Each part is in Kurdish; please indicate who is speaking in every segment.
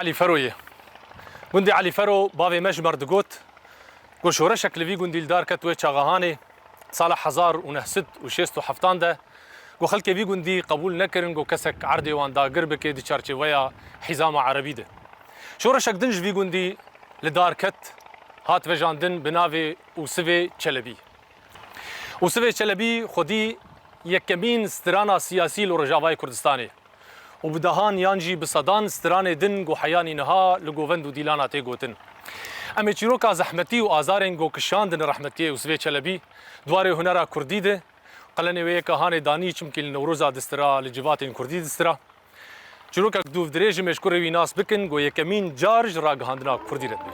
Speaker 1: Elî Fero ye. Gundê Elî Fero bavê me ji me re digot ku şoreşek li vî gundî li dar ket wê Çaxahanê sala hezar û neh sed û şêst û heftan de ku xelkê vî gundî qebûl nekirin ku kesek erdê wan dagir bike di çarçêveya hîzama erebî de. Şoreşek din ji vî gundî li dar ket hat vejandin bi navê Usivê Çelebî. Usivê Çelebî xwedî yekemîn strana siyasî li Rojavayê Kurdistanê ye. û bi dehan yan jî bi sedan stranê din ku heyanî niha li govend û dîlana tê gotin. Em ê çîroka zehmetî û azarên ku kişandin rehmetiyê Yûsifê Çelebî di warê hunera kurdî de qelenê wê yeka hanê danî çimkî li Newroza distira li civatên kurdî distira çîrokek dûvdirêj e mêşkurê wî nas bikin ku yekemîn car ji ragihandina kurdî re dibê.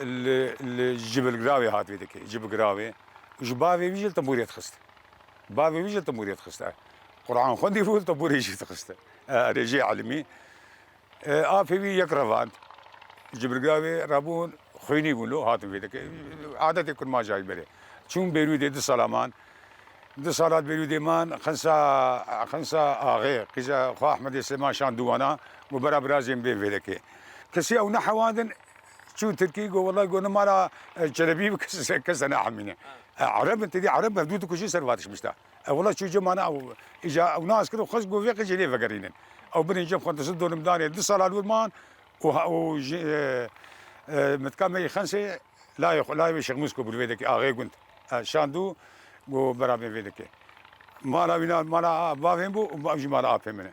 Speaker 2: Li li Jibilgirawê hat vê dikê. Jibigirawê û ji bavê wî jî li tembûrê dixist. Bavê wî jî li tembûrê dixist. E Quran xwendî bû li tembûrê jî dixist. E erê jê elmî. E apê wî yek revand. Jibilgirawê rebûn xwînî bûn lo hatin vê dikê. Adetê kurmajayî berê. Çûn Bêrûdê du sala man. Du sala di Bêrûdê man Xinsa Xinsa axê qîza xwe Ehmedê Sêma şand dû wana got bera birazê min bên vê dikê. Kesî ew nehewandin Çû Tirkî got wellahî got nima ra çelebî bi kese neahmîne. Ereb in têdî ereb hevdû dikujin ser va tişmiş de. Ew wellahî çû cem ana ew îja ew nas kir û xweş got vê qijê nêvegerînin. Ew binên cem xwe di zin donim danê du sala li wir man û û ji mitka me yê Xensê layê xwe layê wê Şêx Mûs Kobul Vêdekê axê gund şandû got berabên Vêdekê mala wî na mala bavên bû û ew jî mala apên min e.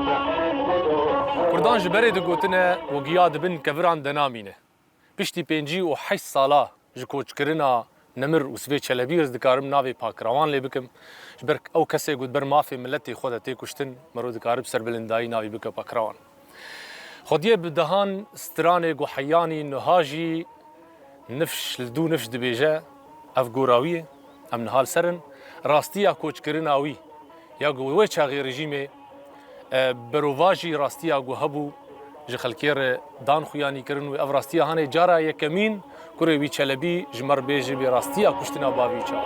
Speaker 1: Kurdan ji berê digotine û giya di bin keviran de namîne. Piştî pêncî û heşt sala ji koçkirina Nemir û Sivê Çelebî ez dikarim navê Pakirawan lê bikim. Ji ber ew kesê ku di ber mafê miletê xwe de tê kuştin, mero dikare bi serbilindayî navê bike Pakirawan. Xwediyê bi dehan stranê ku heyanî niha jî, Nifş li dû nifş dibêje, ev gora wî ye, em niha li ser in. Rastiya koçkirina wî ya ku wê çaxê rejîmê berovajî rastiya ku hebû ji xelkê re dan xuyanî kirin û ev rastiya hanê cara yekemîn kurê wî Çelebî ji me re bê ji vê rastiya kuştina bavî çax.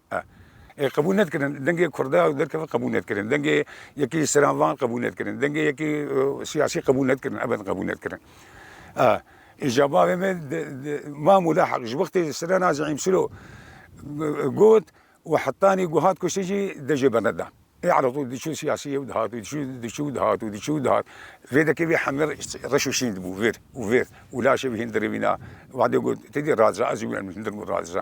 Speaker 2: Ê qebûl nedkirin. Dengê Kurda ew derkeve qebûl nedkirin. Dengê yekî sera van qebûl nedkirin. Dengê yekî siyasî qebûl nedkirin. Ebed qebûl nedkirin. Îja bavê me Mam û Lahik ji wextê Sirena Zeîm Silo got û hetanî ku hat kuştin jî dejê bende da. Ê elatû diçû siyasî ew dihat û diçû diçû û dihat û diçû û dihat. Vê dekê vê hemî reş û şîn dibû vir û vir û laşê wî hindirê wîna. Wadê got, Ti dî razî? Ez jî wî hindirm û razî.